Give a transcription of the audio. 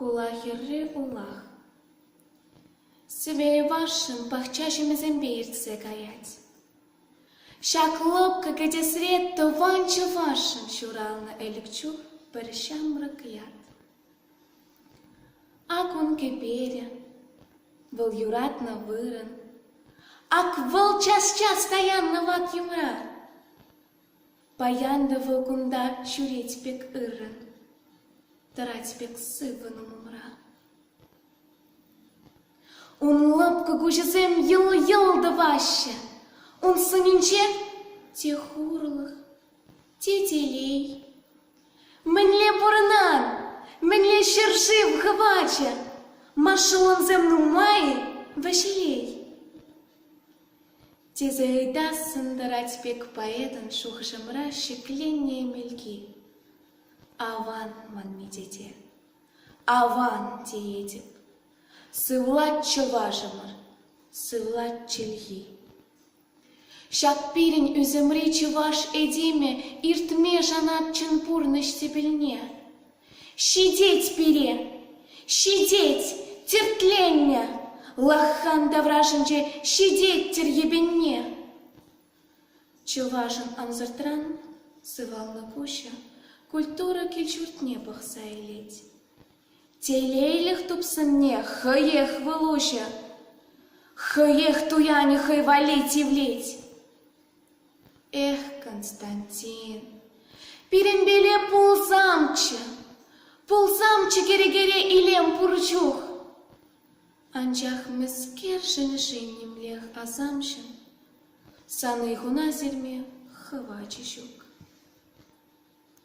Хула хӗрри улах. Сӗвей-варшӑн пахча ҫимӗҫсемпе иртсе каять. Ҫак лӑпкӑ кӗтесре тӑван чӑвашшӑн ҫуралнӑ ӗлӗк чух пӗр ҫамрӑк ят. Ак ун кӗперӗ, вӑл юратнӑ вырӑн. Ак вӑл час-час паянна вак юмра. Паян та вӑл кунта ҫӳрет пек ыррӑн, тӑрать пек сыпӑнум умра. Ун лӑпкӑ куҫӗсем йӑл-йӑл тӑваҫҫӗ, ун сӑнӗнче те хурлӑх, те телей. Мӗнле пурӑнан? Мӗнле ҫӗр-шыв хӑвачӗ? Машӑллӑмсем нумай-и, Ваҫлей? тесе ыйтассӑн тӑрать пек поэтӑн шухӑшӑмра шикленнӗ Эмелки. Аван манми тете, аван теетӗп. Сывлать чӑвашӑмӑр, сывлать чӗлхи. Ҫак пирӗн ӳсӗмри чӑваш этемӗ иртме шанать чӑн пурнӑҫ тӗпелне. Ҫитет пире, ҫитет, тертленнӗ, лаххан таврашӗнче ҫитет-тӗр йӗпенне. Чӑвашӑн ансӑртран сывалнӑ куҫӗ культура кил-ҫуртне пӑхса илет. Телейлӗх тупсӑмне хӑех вӑл уҫӗ, хӑех туянӗ хӑй валли тивлет. Эх, Константин, пирӗнпеле пулсамччӗ, пулсамччӗ кӗрекере илем пур чух. Анчах мӗскершӗн шим нимлех асамҫӑн, саны хунас илме хӑвачӗ ҫук.